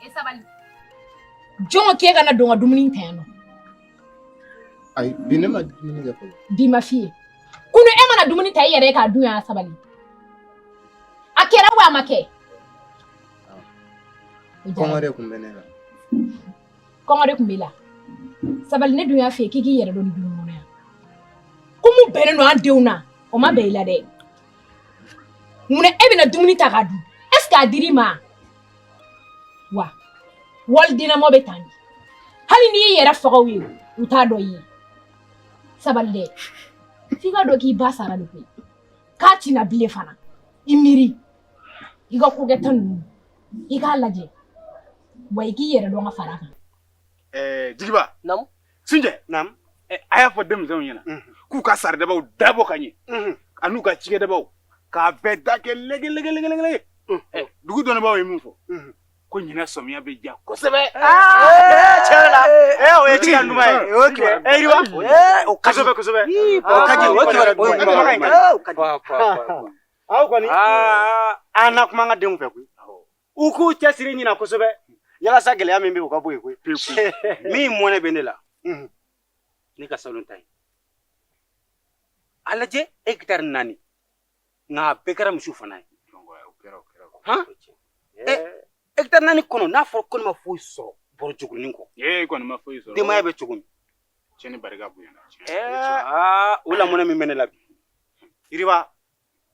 E sabali jɔn ko k'e ka na don ka dumuni ta yan nɔ ayi bi ne ma dumuni kɛ fɔlɔ bi ma f'i ye kunu e ma na dumuni ta i yɛrɛ ye k'a dun yan sabali a kɛra wa a ma kɛ kɔngɔ de tun bɛ ne la kɔngɔ de tun b'i la sabali ne dun y'a fɛ k'i k'i yɛrɛ dɔn du kɔnɔ yan ko min bɛnnen don an denw na o ma bɛn i la dɛ mun e bɛ na dumuni ta k'a dun est ce que a dir'i ma wa walidennamɔ bɛ tan de hali n'i y'i yɛrɛ faga u ye u t'a dɔn i ye sabali dɛ f'i k'a dɔn k'i ba sara de koyi k'a tɛ na bilen fana i miiri i ka kokɛta ninnu i k'a lajɛ wa i k'i yɛrɛ dɔn ka fara a kan ɛɛ jigiba naamu sunjɛ naamu a y'a fɔ denmisɛnw ɲɛna k'u ka saridabaw dabɔ ka ɲɛ an'u ka cikɛdabaw k'a bɛɛ da kɛ lɛgɛlɛgɛlɛgɛlɛgɛ dugu dɔnnibaaw ye min fɔ ko ɲinan sɔmiya bɛ ja kosɛbɛ tiɲɛ la o ye tiɲɛ duman ye o ye tiɲɛ ye yiriwa o ka di kosɛbɛ kosɛbɛ o ka di o ye tiɲɛ ɲuman ye aw kɔni a na kuma an ka denw fɛ koyi u k'u cɛsiri ɲinan kosɛbɛ yalasa gɛlɛya min bɛ o ka bɔ yen koyi min mɔnɛ bɛ ne la ne ka salon ta ye a lajɛ hegitari naani nka a bɛɛ kɛra misiw fana ye Hegitari naani kɔnɔ n'a fɔra ko ne ma foyi sɔrɔ bɔrɔ jugunin kɔ e kɔni ma foyi sɔrɔ denbaya bɛ cogo min cɛ ni barika bonya aa o la mɔnɛ min bɛ ne la bi yiriba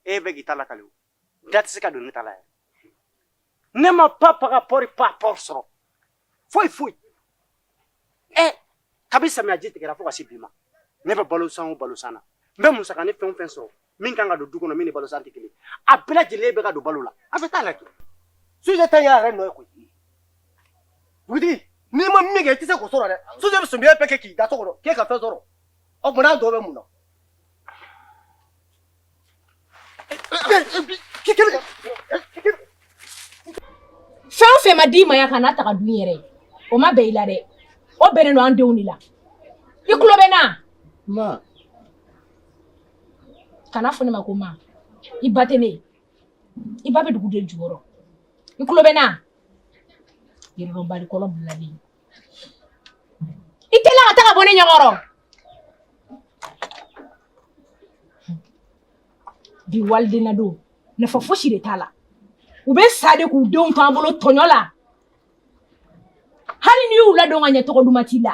e bɛ k'i ta lakali da tɛ se ka don ne ta la yɛrɛ ne ma pa pa ka pɔri pa pɔri sɔrɔ foyi foyi Kabi samiyaji tigɛra fo ka se bi ma ne bɛ balosan o balosan na n bɛ musaka ni fɛn o fɛn sɔrɔ min kan ka don du kɔnɔ min ni balosan tɛ kelen a bɛɛ lajɛlen bɛ ka don balo la a bɛ taa la sunjɛ ta y'a yɛrɛ nɔ koyi dugutigi n'i ma min kɛ i tɛ se k'o sɔrɔ dɛ sunjɛ bɛ samiya bɛɛ kɛ k'i da so kɔnɔ k'e ka fɛn sɔrɔ o tuma na dɔ bɛ mun na fɛn o fɛn ma d'i ma yan kan'a ta k'a dun yɛrɛ o ma bɛn i la dɛ o bɛnnen don an denw de la i tulo bɛ n na ma kan'a fɔ ne ma ko ma i ba tɛ ne ye i ba bɛ dugu de jukɔrɔ i tulo bɛ n na yɛrɛdɔnbali kolon bilalen i teliya ka taga bɔ ne ɲɛkɔrɔ bi walidennadon nafa fosi de t'a la u bɛ sa de k'u denw to an bolo tɔɲɔ la hali n'i y'u ladon ka ɲɛ tɔgɔ duman t'i la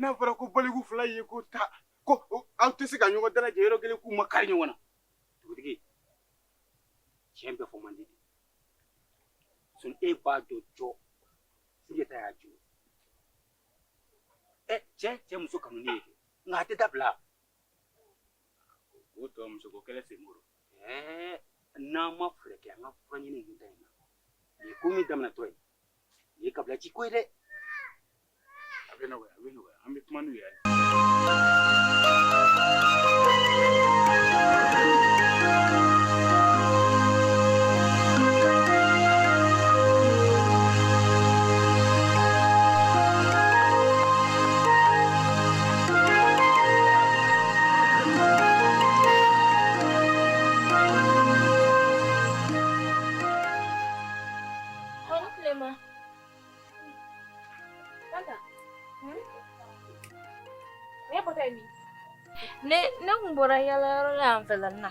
n'a fɔra ko baliku fila ye ko ta ko aw tɛ se ka ɲɔgɔn dalajɛ yɔrɔ kelen k'u makari ɲɔgɔn na dugutigi tiɲɛ bɛɛ fɔ man di sun e b'a dɔn jɔ sunjata y'a jɔ ɛ cɛ cɛ muso kanu ne ye nka a tɛ dabila o tɔ muso ko kɛlɛ sen bolo Ɛɛ n'an ma fɛɛrɛ kɛ an ka fura ɲini ninnu ta in na nin ye ko min daminɛtɔ ye nin ye kabila ci ko ye dɛ a bɛ nɔgɔya a bɛ nɔgɔya an bɛ kuma n'u ye Ne ne kun bɔra yaala yɔrɔ la yan fɛla na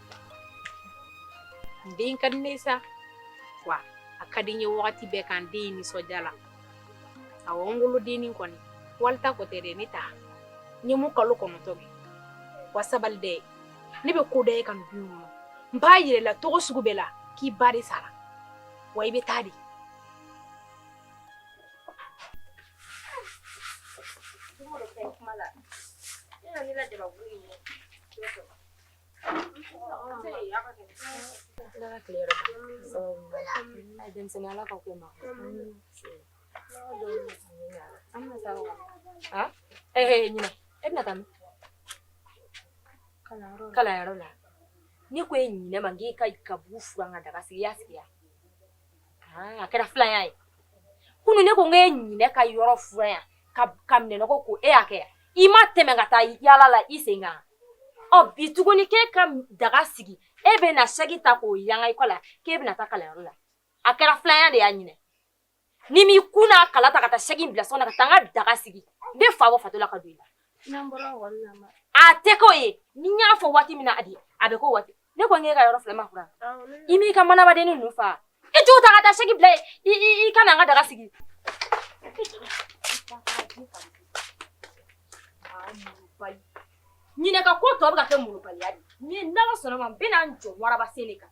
Den ka di ne ye sa wa a ka di n ye waati bɛɛ ka n den nisɔndiya la awɔ n wolodennin kɔni wali ta ko tɛ dɛ ne ta n ye mun kalo kɔnɔntɔn kɛ wa sabali dɛ ne bɛ ko da e kan du kɔnɔ n b'a yira i la cogo sugu bɛɛ la k'i ba de sara wa i bɛ taa di kalanyɔrɔ la ne ko e ɲinɛ ma k'e ka gabugu furan ka daga sigi i y'a sigi yan Ah, a kɛra filanya ye kunu ne ko n k'e ɲinɛ ka yɔrɔ furan yan ka minɛnɔgɔ ko e y'a kɛ yan i ma tɛmɛ ka taa yaala la i sen kan ɔ bi tuguni k'e ka daga sigi e bɛna saki ta k'o yanga i kɔ la k'e bɛna taa kalanyɔrɔ la a kɛra filanya de y'a ɲinɛ n'i m'i kun n'a kala ta ka taa saki bila so kɔnɔ ka taa n ka daga sigi n bɛ fa bɔ fatɔ la ka don i la A tɛ k'o ye ni n y'a fɔ waati min na de a bɛ k'o waati ne ko n k'e ka yɔrɔ filɛ ma furan i m'i ka manabaden ninnu fa i t'u ta ka taa saki bila i ka na n ka daga sigi ɲinɛ ka ko tɔ bɛ ka kɛ malobaliya de n'Ala sɔnna ma n bɛna n jɔ waraba sen de kan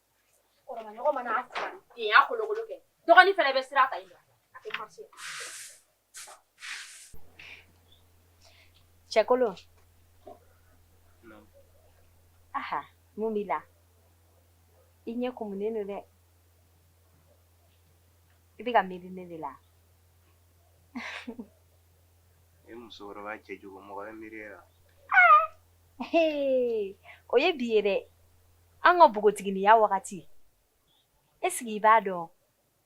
Dɔgɔnin fɛnɛ bɛ sira ta cɛkolon aha mun b'i la i ɲɛ kumunen don dɛ i bɛ ka miiri ne de la e musokɔrɔba cɛjugu mɔgɔ bɛ miiri e la o ye bi ye dɛ an ka bogotiginiya wagati est-ce que i b'a dɔn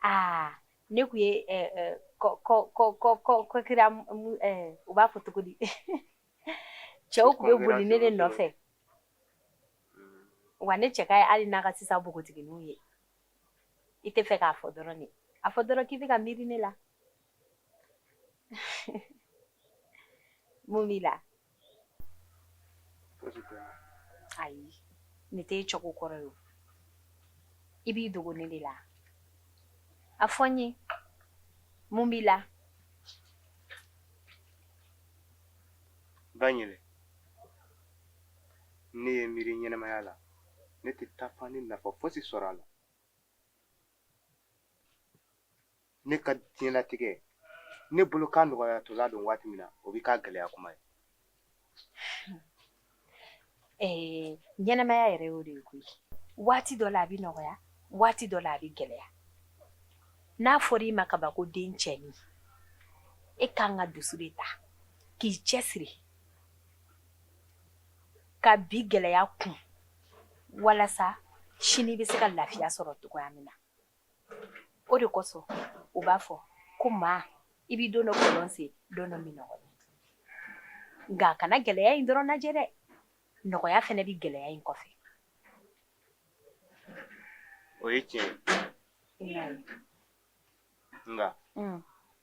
aa ne kun ye ko kira u b'a fɔ cogo di cɛw kun bɛ boli ne de nɔfɛ wa ne cɛ ka ɲi hali n'a ka sisan bogotigininw ye i tɛ fɛ k'a fɔ dɔrɔn de a fɔ dɔrɔn k'i bɛ ka miiri ne la mun b'i la ayi ne tɛ e cogo kɔrɔ ye o i b'i dogo ne de la a fɔ n ye mun b'i la Ba Ɲele ne ye miiri ɲɛnɛmaya la ne tɛ taafan ni nafa fosi sɔrɔ a la ne ka diɲɛlatigɛ ne bolo k'a nɔgɔyatɔla don waati min na o bɛ k'a gɛlɛya kuma ye ɛɛ ɲɛnamaya yɛrɛ y'o de ye koyi waati dɔ la a bɛ nɔgɔya waati dɔ la a bɛ gɛlɛya n'a fɔra i ma kaban ko dencɛnin e kan ka dusu de ta k'i cɛsiri ka bi gɛlɛya kun walasa sini bɛ se ka lafiya sɔrɔ cogoya min na o de kosɔn u b'a fɔ ko maa i bɛ don dɔ kɔlɔn sen don dɔ minnɔgɔ la nka a kana gɛlɛya in dɔrɔn lajɛ dɛ nɔgɔya fɛnɛ bɛ gɛlɛya in kɔfɛ o ye tiɲɛ ye nka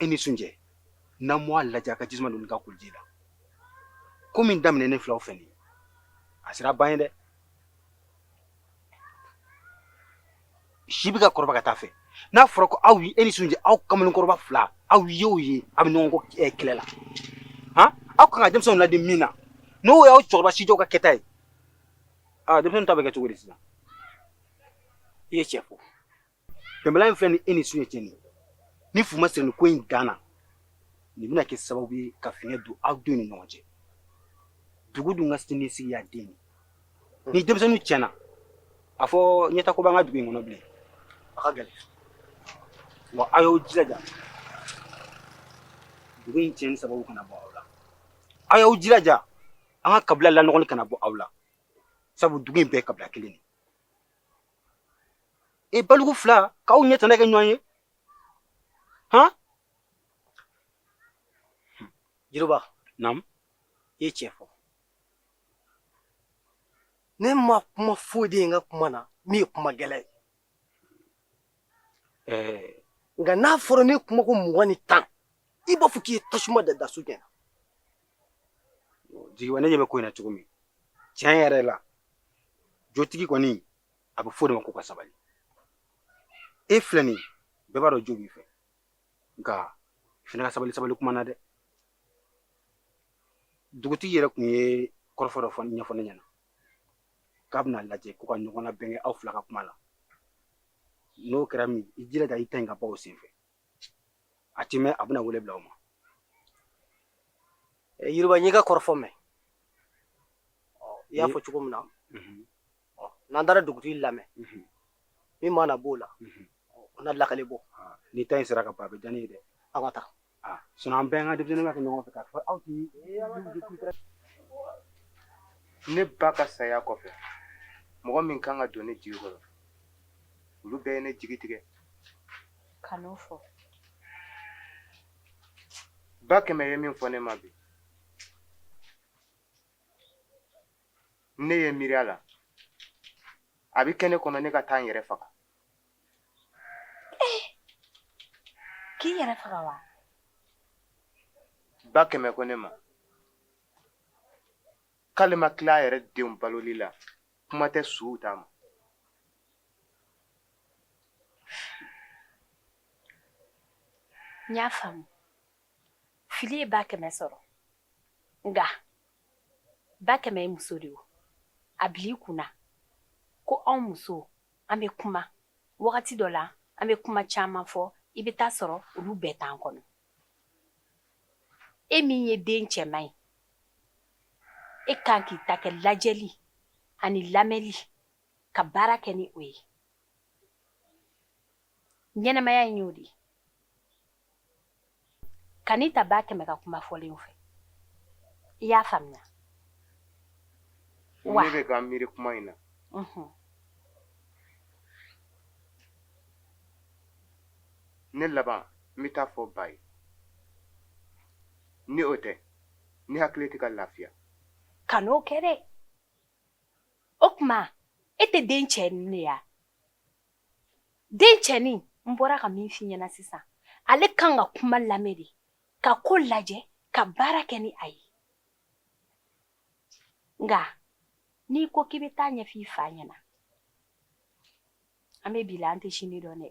e ni Sunjɛ n'an m'a lajɛ a ka jisuma don ka kuluji la ko min daminɛnen filɛ aw fɛ nin a sera ban ye dɛ si bɛ ka kɔrɔba ka taa a fɛ n'a fɔra ko aw e ni Sunjɛ aw kamalenkɔrɔba fila aw ye o ye aw bɛ ɲɔgɔn kɔ kɛlɛ la han aw kan ka denmisɛnw ladi min na n'o y'aw cɛkɔrɔba sijɛw ka kɛta ye aa denmisɛnw ta bɛ kɛ cogo di sisan i ye cɛ fo Bɛnbaliya in filɛ ni e ni sunjɛ cɛ nin ni fu ma siri nin ko in dan na nin bɛna kɛ sababu ye ka fiɲɛ don aw denw ni ɲɔgɔn cɛ dugu dun ka sini sigi y'a den ye ni denmisɛnninw tiɲɛna a fɔ ɲɛtaa ko b'an ka dugu in kɔnɔ bilen a ka gɛlɛn wa aw y'aw jilaja dugu in tiɲɛni sababu kana bɔ aw la aw y'aw jilaja an ka kabila lanɔgɔli kana bɔ aw la sabu dugu in bɛɛ ye kabila kelen de ye e baliku fila k'aw ɲɛ tana kɛ ɲɔgɔn ye han jiriba naamu i ye tiɲɛ fɔ ne ma kuma foyi de ye n ka kuma na min ye kuma gɛlɛn ye ɛɛ nka n'a fɔra ne kuma ko mugan ni tan i b'a fɔ k'i ye tasuma da da sunjɛ na jigiba ne ɲɛ bɛ ko in na cogo min tiɲɛ yɛrɛ la jotigi kɔni a bɛ fɔ de ma ko ka sabali e filɛ nin bɛɛ b'a dɔn jo b'i fɛ nka i fana ka sabali sabali kuma na dɛ dugutigi yɛrɛ tun ye kɔrɔfɔ dɔ ɲɛfɔ ne ɲɛna k'a bɛna lajɛ ko ka ɲɔgɔn labɛn kɛ aw fila ka kuma la n'o kɛra min i jilaja i ta in ka bɔ o senfɛ a ti mɛn a bɛna wele bila aw ma jiriba n y'i ka kɔrɔfɔ mɛn i y'a fɔ cogo min na n'an taara dugutigi lamɛn min mana b'o la o na lakali bɔ ni ta in sera ka ban a bɛ diya ne ye dɛ aw ka taa sinɔn an bɛɛ an ka denmisɛnninw ka kɛ ɲɔgɔn fɛ k'a fɔ aw ti ne ba ka saya kɔfɛ mɔgɔ min kan ka don ne jigi kɔrɔ olu bɛɛ ye ne jigi tigɛ kan'o fɔ ba kɛmɛ ye min fɔ ne ma bi ne ye miiri a la a bɛ kɛ ne kɔnɔ ne ka taa n yɛrɛ faga k'i yɛrɛ faga wa ba kɛmɛ ko ne ma k'ale ma tila a yɛrɛ denw baloli la kuma tɛ suw ta ma n y'a faamu fili ye ba kɛmɛ sɔrɔ nka ba kɛmɛ ye muso de ye a bil'i kun na ko anw muso an bɛ kuma wagati dɔ la an bɛ kuma caman fɔ i bɛ taa sɔrɔ olu bɛɛ t'an kɔnɔ e min ye den cɛman ye e kan k'i ta kɛ lajɛli ani lamɛnli ka baara kɛ ni o ye ɲɛnamaya in y'o de ye kan'i ta ba kɛmɛ ka kuma fɔlenw fɛ i y'a faamuya wa ne bɛ ka miiri kuma in na ne laban n bɛ t'a fɔ ba ye ni o tɛ ne hakili tɛ ka lafiya kan'o kɛ dɛ o tuma e tɛ den cɛnin ne ya den cɛnin n bɔra ka min f'i ɲɛna sisan ale kan ka kuma lamɛn de ka ko lajɛ ka baara kɛ ni a ye nka n'i ko k'i bɛ t'a ɲɛf'i fa ɲɛna An bɛ bi la an tɛ sini dɔn dɛ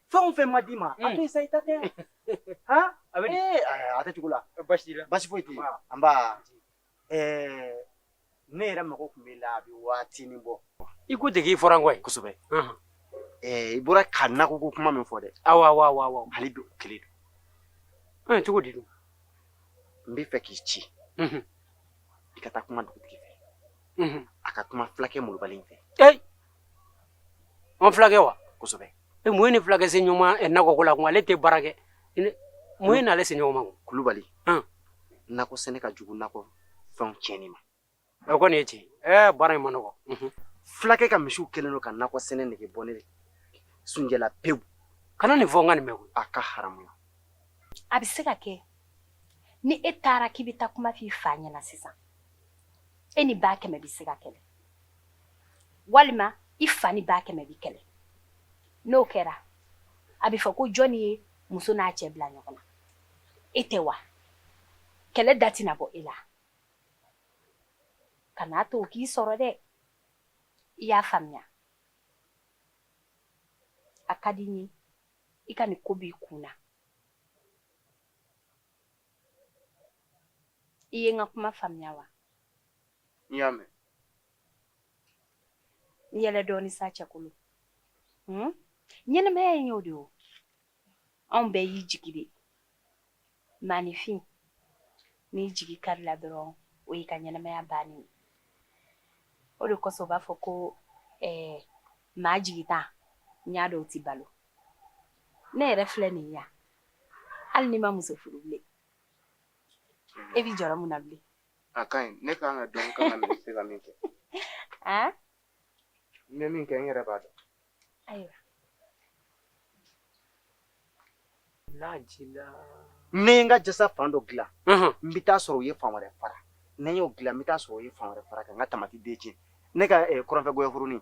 fɛn o fɛn ma d'i ma a to yen sa i ta tɛ han a bɛ a tɛ cogo la basi t'i la basi foyi t'i la anba ne yɛrɛ mago tun b'e la a bɛ waatinin bɔ i ko dege i fɔra n kɔ yen kosɛbɛ i bɔra ka nakɔ ko kuma min fɔ dɛ awa awa awa awa hali bi o kelen don ɛ cogo di don n b'a fɛ k'i ci i ka taa kuma dugutigi fɛ a ka kuma fulakɛ molobali in fɛ An fulakɛ wa kosɛbɛ mun y'e ni fulakɛ se ɲɔgɔn ma nakɔ ko la kun ale tɛ baara kɛ mun y'e ni ale se ɲɔgɔn ma kulubali nakɔ sɛnɛ ka jugu nakɔ fɛn tiɲɛni ma o kɔni ye tiɲɛ baara in man nɔgɔ fulakɛ ka misiw kɛlen don ka nakɔ sɛnɛ nege bɔ ne sunjɛ la pewu kana nin fɔ n ka nin mɛn a ka haramuya a bɛ se ka kɛ ni e taara k'i bɛ taa kuma f'i fa ɲɛna sisan e ni ba kɛmɛ bɛ se ka kɛlɛ walima i fa ni ba kɛmɛ bɛ kɛlɛ n'o kɛra a bɛ fɔ ko jɔni ye muso n'a cɛ bila ɲɔgɔn na e tɛ wa kɛlɛ da tɛna bɔ e la kan'a to o k'i sɔrɔ dɛ i y'a faamuya a ka di n ye i ka nin ko b'i kun na i ye n ka kuma faamuya wa n y'a mɛn n yɛlɛ dɔɔni sa cɛkolo Hmm? ɲɛnɛmaya in y'o de o anw bɛɛ y'i jigi de maanifin n'i jigi karila dɔrɔn o y'i ka ɲɛnɛmaya bannen ye o de kosɔn u b'a fɔ ko eh, maa jigitan n y'a dɔn o tɛ balo ne yɛrɛ filɛ nin ye yan hali ni ma muso furu bilen e b'i jɔrɔ mun na bilen a ka ɲi ne kan ka dɔn kan ka mɛ se ka min kɛ n bɛ min kɛ n yɛrɛ b'a dɔn ayiwa lajila ne ye n ka jasa fan dɔ dilan n bɛ taa sɔrɔ u ye fan wɛrɛ fara ne y'o dilan n bɛ taa sɔrɔ u ye fan wɛrɛ fara ka n ka tamati den tiɲɛ ne ka kɔrɔnfɛ gɔyɔ foronin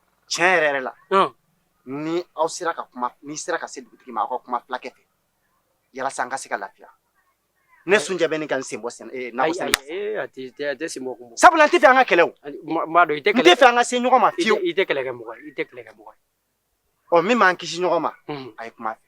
tiɲɛ yɛrɛ yɛrɛ la ni aw sera ka kuma n'i sera ka se dugutigi ma aw ka kuma fulakɛ fɛ yalasa an ka se ka lafiya ne sunjɛ bɛ ɲini ka n sen bɔ sɛnɛ eh, nakɔ sɛnɛ a tɛ sen bɔ kun sabula n tɛ fɛ an ka kɛlɛ o n b'a dɔn i tɛ kɛlɛ n tɛ fɛ an ka se ɲɔgɔn ma fiyewu i tɛ kɛlɛ kɛ mɔgɔ ye i tɛ kɛlɛ kɛ mɔgɔ ye ɔ min b'an kisi ɲɔgɔn ma a ye kuma a fɛ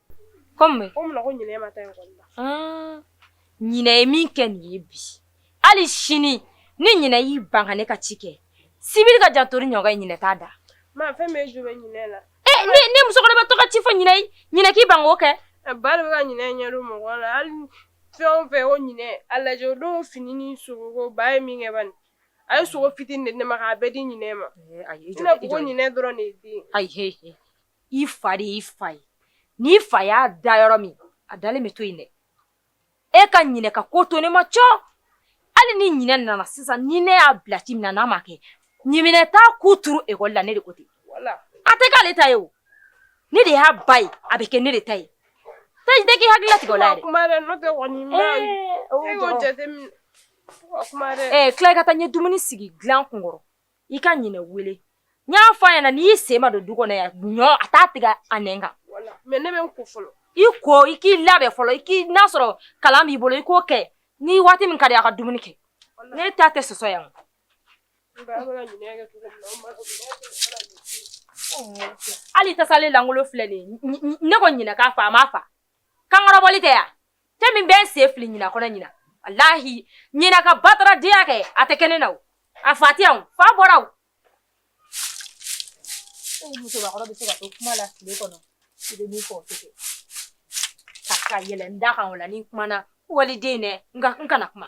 Ko mun bɛ yen? Ko mun na ko ɲinɛ e ma taa école la? Ɔn ɲinɛ ye min kɛ nin ye bi, hali sini ni ɲinɛ y'i ban ka ne ka ci kɛ, sibiri ka jan tori ɲɔgɔn ye ɲinɛ t'a da. Maa fɛn min e jo bɛ ɲinɛ la. E ne ne musokɔrɔbatɔ ka ci fɔ ɲinɛ ye, ɲinɛ k'i ban k'o kɛ. Ɛ ba de bɛ ka ɲinɛ ɲɛ jɔ mɔgɔ la, hali fɛn o fɛn ko ɲinɛ, a lajɛ o don fini ni sogo ko ba ye min kɛ bani, a ye sogo fitini de di ne ma k'a bɛɛ di ɲinɛ ma. Ee ayi i jɔ dɛ, i jɔ dɛ. I n'a fɔ ko ɲinɛ dɔrɔn de ye den ye. Ayi he he. i fa de y'i fa ye n'i fa y'a da yɔrɔ min a dalen bɛ to yen dɛ e ka ɲinɛ ka ko to ne ma cɔ hali ni ɲinɛ nana sisan ni ne y'a bila ci min na n'a ma kɛ ɲiminɛ t'a ku turu ekɔli la ne de ko ten a tɛ k'ale ta ye o ne de y'a ba ye a bɛ kɛ ne de ta ye taji tɛ k'i hakili latigɛ o la yɛrɛ kuma dɛ n'o tɛ kɔni n b'a ye e y'o jateminɛ kuma dɛ ee tila i ka taa n ye dumuni sigi dilan kun kɔrɔ i ka ɲinɛ wele n y'a fɔ a ɲɛna n'i sen ma don du kɔnɔ yan ɲɔ a t'a tigɛ a nɛn kan mais ne bɛ n ko fɔlɔ i ko i k'i labɛn fɔlɔ i k'i n'a sɔrɔ kalan b'i bolo i k'o kɛ ni waati min ka di a ka dumuni kɛ ne ta tɛ sɔsɔ yan hali tasalen lankolon filɛ nin ye ne ko ɲinɛ k'a fa a m'a fa kankɔrɔbɔli tɛ yan cɛ min bɛ n sen fili ɲina kɔnɔ ɲina walahi ɲina ka bataradenya kɛ a tɛ kɛ ne na o a fa tɛ yan o fa bɔra o musokɔrɔba bɛ se ka to kuma la tile kɔnɔ i bɛ min fɔ o tɛ kɛ ka ka yɛlɛ n da kan o la ni n kumana waliden dɛ n ka n kana kuma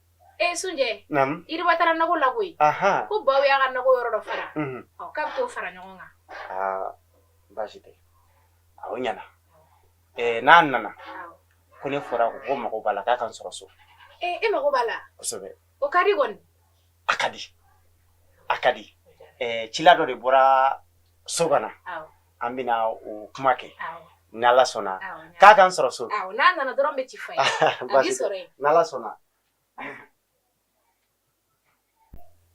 E sunjɛ yiriba taara nakɔ la koyi ko baw y'a ka nakɔ yɔrɔ dɔ fara k'a bɛ t'o fara ɲɔgɔn kan baasi tɛ a o ɲɛna n'a nana ko ne fɔra ko ko mago b'a la k'a ka n sɔrɔ so e mago b'a la kosɛbɛ o ka di kɔni a ka di a ka di cila dɔ de bɔra so kɔnɔna an bɛna o kuma kɛ ni ala sɔnna k'a ka n sɔrɔ so n'a nana dɔrɔn n bɛ ci f'a ye a b'i sɔrɔ yen ni ala sɔnna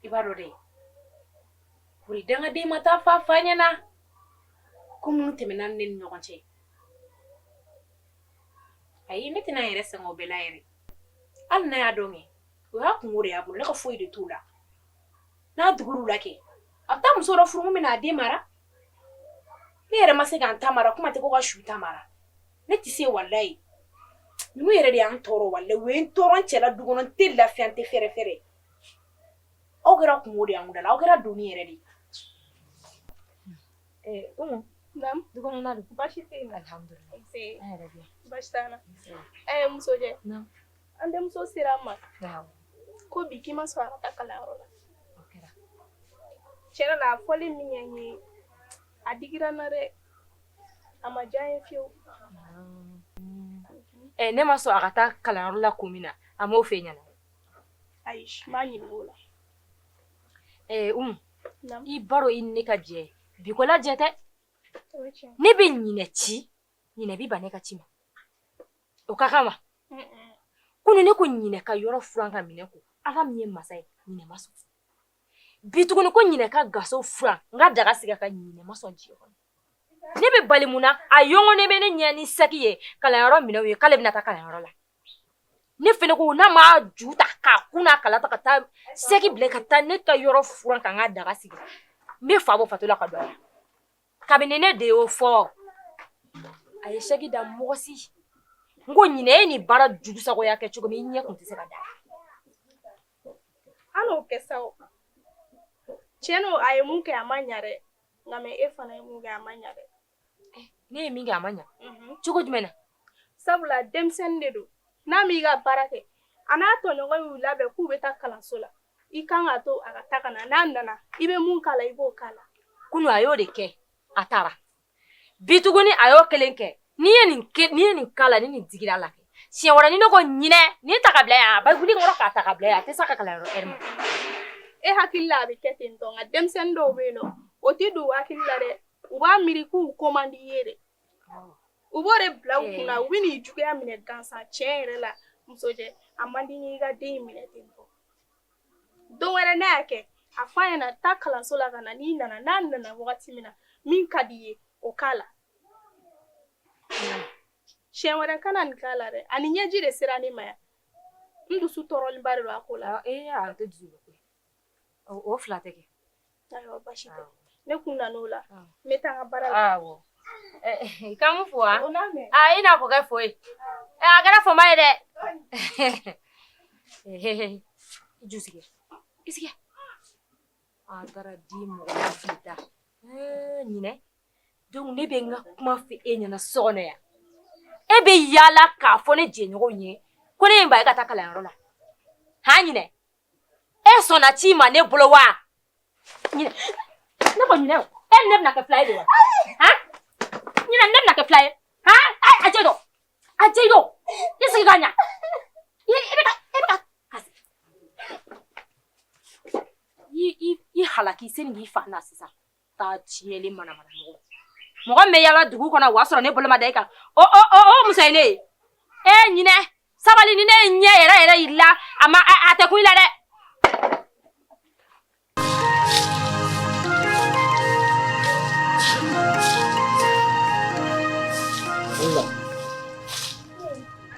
i b'a dɔn dɛ kori dangaden ma taa f'a fa ɲɛna ko minnu tɛmɛna ne ni ɲɔgɔn cɛ ayi ne tɛna yɛrɛ sɛgɛn o bɛɛ la yɛrɛ hali n'a y'a dɔn kɛ o y'a kunko de y'a bolo ne ka foyi de t'o la n'a digir'u la kɛ a bɛ taa muso dɔ furu min bɛna a den mara ne yɛrɛ ma se ka n ta mara kuma tɛ ko ka su ta mara ne tɛ se walayi ninnu yɛrɛ de y'an tɔɔrɔ walayi u ye n tɔɔrɔ n cɛla du kɔnɔ n tɛ lafiya n tɛ fɛrɛ fɛrɛ aw kɛra kunko de y'anw da la aw kɛra doni yɛrɛ de ye umu du kɔnɔna don baasi tɛ yen alhamdulilayi an yɛrɛ bɛ yan baasi t'an na ɛɛ musojɛ An denmuso sera an ma ko bi k'i ma sɔn a ka taa kalanyɔrɔ la tiɲɛ la a fɔli min ye n ye a digira n na dɛ a ma diya n ye fiyewu eh, ne ma sɔn a ka taa kalanyɔrɔ la kun min na a m'o f'e ɲɛna ayi n m'a ɲininka o la eh, Umu i b'a dɔn i ni ne ka jɛ bi ko la jɛ tɛ ne bɛ ɲinɛ ci ɲinɛ bi ban ne ka ci ma O ka kan wa? Kunun ne ko ɲinɛ ka yɔrɔ furan ka minɛn ko. Ala min ye masa ye, ɲinɛ ma sɔn. Bi tuguni ko ɲinɛ ka gaso furan, n ka daga sigi a kan, ɲinɛ ma sɔn diɲɛ kɔnɔ. Ne bɛ bali mun na? A yɔngɔnen bɛ ne ɲɛ ni sac ye kalanyɔrɔ minɛnw ye k'ale bɛna taa kalanyɔrɔ la. Ne fana ko n'a ma ju ta k'a kun n'a kala ta ka taa sac bila ka taa ne ka yɔrɔ furan ka n ka daga sigi, n bɛ fa bɔ fatɔ la ka don a la. kabini ne de y'o fɔ a ye sac da mɔgɔ si n ko ɲinɛ e ni baara jugu sagoya kɛ cogo min i ɲɛ kun tɛ se ka da an n'o kɛ sa o tiɲɛ don a ye mun kɛ a ma ɲa dɛ nka mɛ e fana ye mun kɛ a ma ɲa dɛ ne ye min kɛ a ma ɲa cogo jumɛn na sabula denmisɛnnin de don n'a m'i ka baara kɛ a n'a tɔɲɔgɔn y'u labɛn k'u bɛ taa kalanso la i kan k'a to a ka taa ka na n'a nana i bɛ mun k'a la i b'o k'a la kunu a y'o de kɛ a taara bi tuguni a y'o kelen kɛ n'i ye nin n'i ye nin k'a la ni nin digira a la kɛ siɲɛ wɛrɛ ni ne ko ɲinɛ nin ta ka bila yan a bɛ wuli kɔrɔ k'a ta ka bila yan a tɛ s'a ka kalanyɔrɔ ɛri ma e hakili la a bɛ kɛ ten tɔ nka denmisɛnnin dɔw bɛ yen nɔ o tɛ don u hakili la dɛ u b'a miiri k'u ko man di i ye de U b'o de bila u kun na u bɛ n'i juguya minɛ gansan tiɲɛ yɛrɛ la Musojɛ a man di n ye i ka den in minɛ ten tɔ don wɛrɛ n'a y'a kɛ a fɔ a ɲɛna taa kalanso la ka na n'i nana n'a nana wagati min na min ka di i ye o k'a la siɲɛ wɛrɛ kana nin k'a la dɛ a ni ɲɛji de sera ne ma yan n dusu tɔɔrɔlenba de don a ko la ee a tɛ dusu bɔ koyi o fila tɛ kɛ Ayiwa basi tɛ ne kun nana o la n bɛ taa n ka baara la k'an b'u fo wa i n'a fɔ kɛ fɔ a kɛra fama ye dɛ i sigi a taara di mɔgɔ da ɲinɛ donc ne bɛ n ka kuma fɔ e ɲɛna so kɔnɔ yan e bɛ yaala k'a fɔ ne jɛɲɔgɔn ye ko ne y'e bali ka taa kalanyɔrɔ la han ɲinɛ e sɔnna ci ma ne bolo wa ne ko ɲinɛ e ni ne bɛna kɛ fila ye de wa han ɲinɛ ne bɛna kɛ fila ye han a jɛ dɔ a jɛ dɔ i sigi ka ɲa i bɛ ka i bɛ ka i i i halaki sani k'i fa na sisan taa tiɲɛlen manamana mɔgɔ mɔgɔ min bɛ yaala dugu kɔnɔ o y'a sɔrɔ ne bolo ma da i kan o o o o muso ye ne ye e ɲinɛ sabali ni ne ye ɲɛ yɛrɛ yɛrɛ yir'i la a ma a a tɛ kun i la dɛ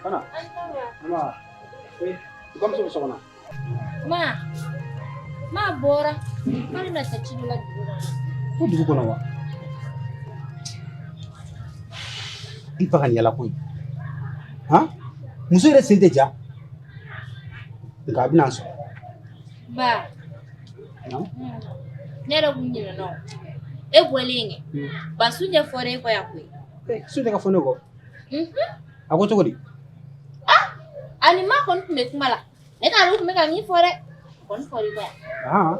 Ana. Ana. Eh, kamu sama-sama. Ma, ma bɔra. K'ale bɛna taa ci dɔ la dugu la. Ko dugu kɔnɔ wa? I ba ka nin yaala ko in. Han! Muso yɛrɛ sen tɛ ja. Nka a bɛna n sɔrɔ. Ba. Naamu. Ne yɛrɛ kun ɲinɛna o. E bɔlen kɛ. Ba Sunjɛ fɔra e kɔ yan koyi. Ee Sunjɛ ka fɔ ne kɔ? a ko cogo di a ni ma kɔni tun bɛ kuma la ne t'a dɔn u tun bɛ ka min fɔ dɛ a kɔni fɔr'i kɔ yan aa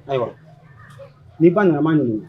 ayiwa n'i ba nana n b'a ɲininka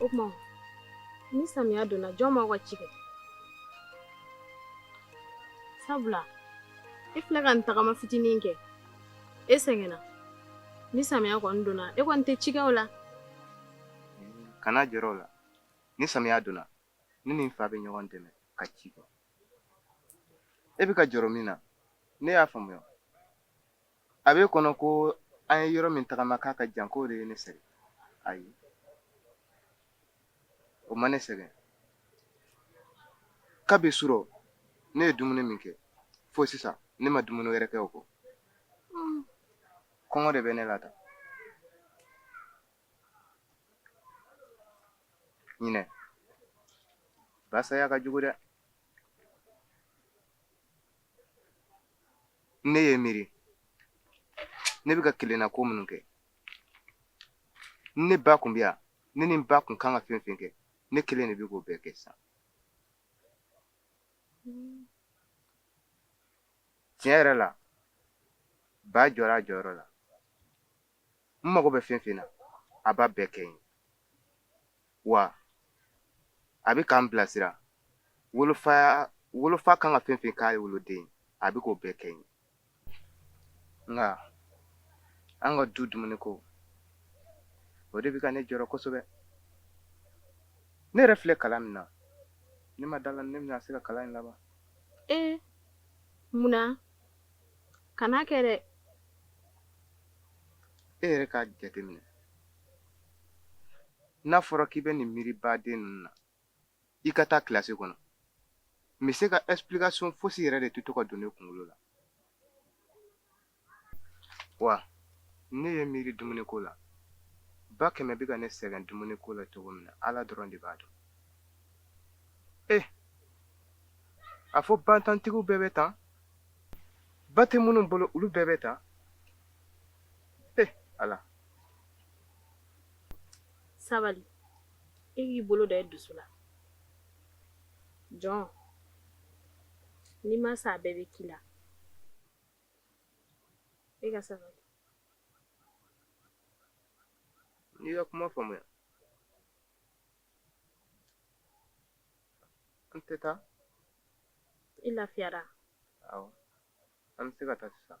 o tuma ni samiya donna jɔn b'aw ka ci kɛ sabula e filɛ ka nin tagama fitinin kɛ e sɛgɛnna ni samiya kɔni donna e kɔni tɛ cikɛw la kana jɔrɔ o la ni samiya donna ne ni n fa bɛ ɲɔgɔn dɛmɛ ka ci kɛ e bɛ ka jɔrɔ min na ne y'a faamuya a b'e kɔnɔ ko an ye yɔrɔ min tagama k'a ka jan k'o de ye ne sɛgɛn ayi o ma ne sɛgɛn kabi surɔ ne ye dumuni min kɛ fo sisan ne ma dumuni wɛrɛ kɛ o kɔ kɔngɔ de bɛ ne la ta ɲinɛ ba saya ka jugu dɛ ne ye miiri ne bɛ ka kelenna ko minnu kɛ ne ba kun bɛ yan ne ni n ba kun kan ka fɛn fɛn kɛ ne kelen de bɛ k'o bɛɛ kɛ sisan tiɲɛ yɛrɛ la ba jɔra a jɔyɔrɔ la n mago bɛ fɛn fɛn na a b'a bɛɛ kɛ n ye wa a bɛ k'an bilasira wolofa wolofa kan ka fɛn fɛn k'a woloden ye a bɛ k'o bɛɛ kɛ n ye nka an ka du dumuni ko o de bɛ ka ne jɔrɔ kosɛbɛ ne yɛrɛ filɛ kalan min na ne ma d'a la ne bɛna se ka kalan in laban ee eh, munna kana kɛ dɛ e yɛrɛ k'a jateminɛ n'a fɔra k'i bɛ nin miiri baden ninnu na i ka taa kilasi kɔnɔ monsieur ka explication fosi yɛrɛ de tɛ to ka don ne kunkolo la wa ne ye miiri dumuni ko la ba kɛmɛ bɛ ka ne sɛgɛn dumuni ko la cogo min na ala dɔrɔn de b'a dɔn eh a fɔ bantantigiw bɛɛ bɛ tan ba tɛ minnu bolo olu bɛɛ bɛ tan eh ala sabali e k'i bolo da i dusu la jɔn ni ma sa bɛɛ bɛ k'i la e ka sabali n y'i ka kuma faamuya an tɛ taa i lafiyara an bɛ se ka taa sisan